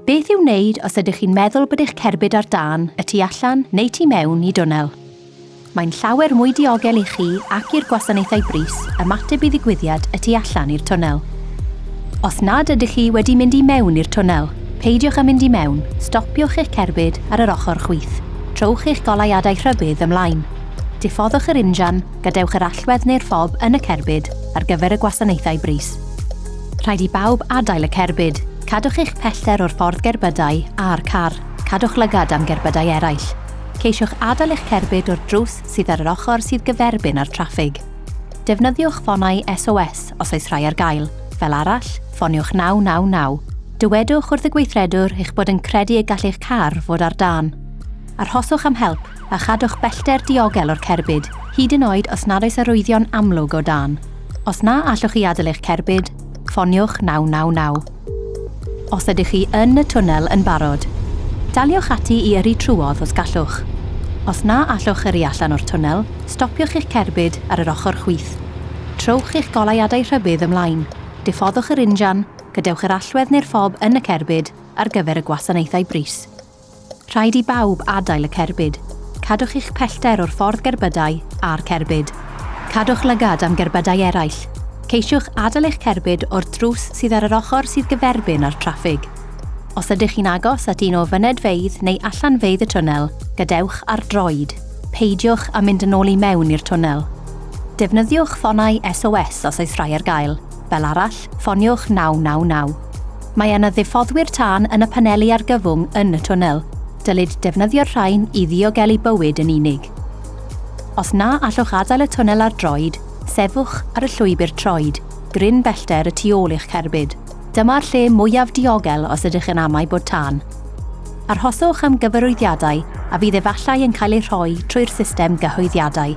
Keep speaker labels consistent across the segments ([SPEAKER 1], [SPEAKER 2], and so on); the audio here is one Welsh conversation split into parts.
[SPEAKER 1] Beth i'w wneud os ydych chi'n meddwl bod eich cerbyd ar dân y tu allan neu tu mewn i dwnnel? Mae'n llawer mwy diogel i chi ac i'r gwasanaethau brys ymateb i ddigwyddiad y tu allan i'r twnnel. Os nad ydych chi wedi mynd i mewn i'r twnnel, peidiwch â mynd i mewn, stopiwch eich cerbyd ar yr ochr chwith. Trowch eich goleuadau rhybudd ymlaen. Diffoddwch yr injan, gadewch yr allwedd neu'r ffob yn y cerbyd ar gyfer y gwasanaethau brys. Rhaid i bawb adael y cerbyd. Cadwch eich pellter o'r ffordd gerbydau a'r car. Cadwch lygad am gerbydau eraill. Ceisiwch adael eich cerbyd o'r drws sydd ar yr ochr sydd gyferbyn â'r traffig. Defnyddiwch ffonau SOS os oes rhai ar gael, fel arall, ffoniwch 999. Dywedwch wrth y gweithredwr eich bod yn credu y gall eich car fod ar dân. Arhoswch am help. a chadwch bellter diogel o'r cerbyd, hyd yn oed os nad oes arwyddion amlwg o dân. Os na allwch chi adael eich cerbyd, ffoniwch 999. Os ydych chi yn y twnnel yn barod, daliwch ati i yrru trwodd os gallwch. Os na allwch yrru allan o'r twnnel, stopiwch eich cerbyd ar yr ochr chwith. Trowch eich goleuadau rhybudd ymlaen, diffoddwch yr injan, gadewch yr allwedd neu'r ffob yn y cerbyd ar gyfer y gwasanaethau brys. Rhaid i bawb adael y cerbyd. Cadwch eich pellter o'r ffordd gerbydau a'r cerbyd. Cadwch lygad am gerbydau eraill. Ceisiwch adael eich cerbyd o'r drws sydd ar yr ochr sydd gyferbyn â'r traffig. Os ydych chi'n agos at un o fynedfeydd neu allanfeydd y twnnel, gadewch ar droed. Peidiwch â mynd yn ôl i mewn i'r twnnel. Defnyddiwch ffonau SOS os oes rhai ar gael, fel arall, ffoniwch 999. Mae yna ddiffoddwyr tân yn y paneli argyfwng yn y twnnel. Dylid defnyddio'r rhain i ddiogelu bywyd yn unig. Os na allwch adael y twnnel ar droed, sefwch ar y llwybr troed, gryn bellter y tu ôl i'ch cerbyd. Dyma'r lle mwyaf diogel os ydych yn amau bod tân. Arhoswch am gyfarwyddiadau a fydd efallai yn cael eu rhoi trwy'r system gyhoeddiadau.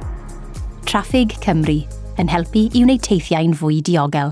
[SPEAKER 1] Traffig Cymru yn helpu i wneud teithiau'n fwy diogel.